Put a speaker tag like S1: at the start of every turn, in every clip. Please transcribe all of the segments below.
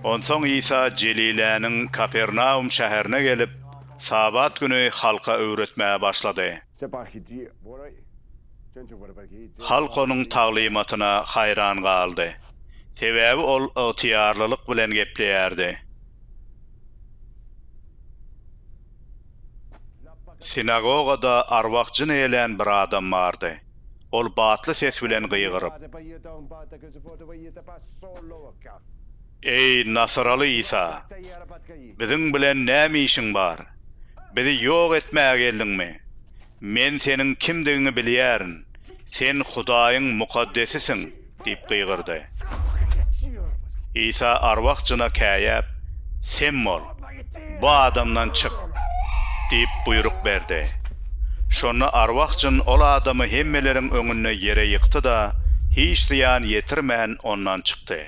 S1: Onsoň Isa Jeliläniň Kapernaum şäherine gelip, Sabat güni halka öwretmäge başlady. Halk onuň taglymatyna haýran galdy, sebäbi ol ygtyýarlylyk bilen gepleýärdi. Sinagogada arwah-jyn eýlän bir adam bardy. Ol batly ses bilen gygyryp. Eý, nasyraly Isa! Biziň bilen näme işiň bar? Bizi ýok etmäge geldiňmi? Men Seniň kimdigiňi bilýärin, Sen Hudaýyň Mukaddesisiň! diýip gygyrdy. Isa arwah jyna käýäp, Sem bol, bu adamdan çyk! diýip buýruk berdi. Şonda arwah jyn ol adamy hemmeleriň öňünde ýere ýykdy-da, hiç zyýan ýetirmän ondan çykdy.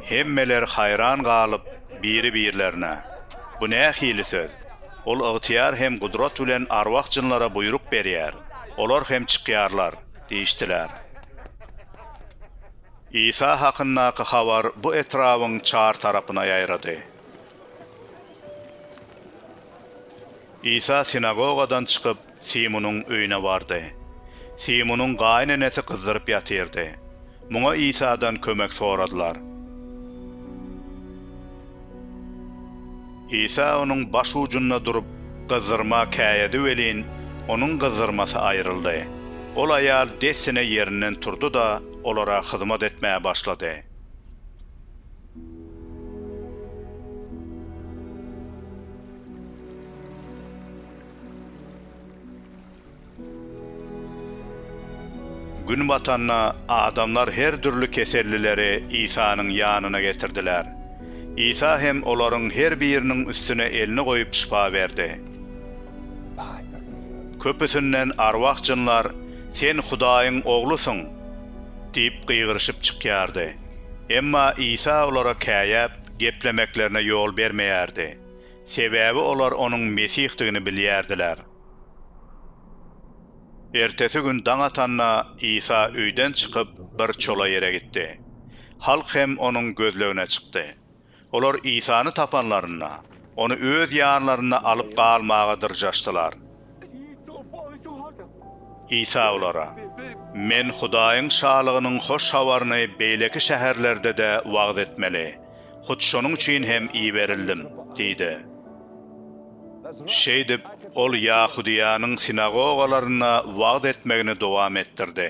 S1: Hemmeler haýran galyp, biri-birlerine, Bu nähili söz? Ol ygtyýar hem gudrat bilen arwah-jynlara buýruk berýär, olar hem çykýarlar diýişdiler. Isa hakyndaky habar bu etrabyň çar tarapyna ýaýrady. Isa sinagogadan çykyp, Simunyň öýüne bardy. Simunyň gaýynenesi gyzdyryp ýatyrdy. Muňa Isadan kömek soradylar. Isa onuň baş ujunda durup, gyzdyrma käýedi welin, onuň gyzdyrmasy aýryldy. Ol aýal dessine ýerinden turdy-da, olara hyzmat etmäge başlady. Gün batanda adamlar her dürli kesellileri Isanyň ýanyna getirdiler. Isa hem olaryň her biriniň üstüne elini goýup şypa berdi. Köpüsinden arwah jynlar Sen Hudaýyň Oglusyň! diýip gygyryşyp çykýardy. Emma Isa olara käýäp, geplemeklerine ýol bermeýärdi. Sebäbi olar onuň Mesihdigini bilýärdiler. Ertesi gün daň atanda, Isa öýden çykyp, bir çola ýere gitdi. Halk hem onuň gözlegine çykdy. Olar Isany tapanlarynda, ony öz ýanlarynda alyp galmaga dyrjaşdylar. Isa olara, Men Hudaýyň Şalygynyň hoş habaryny beýleki şäherlerde-de wagyz etmeli, hut şonuň üçin hem iberildim diýdi. Şeýdip, ol Ýahudyýanyň sinagogalarynda wagyz etmegini dowam etdirdi.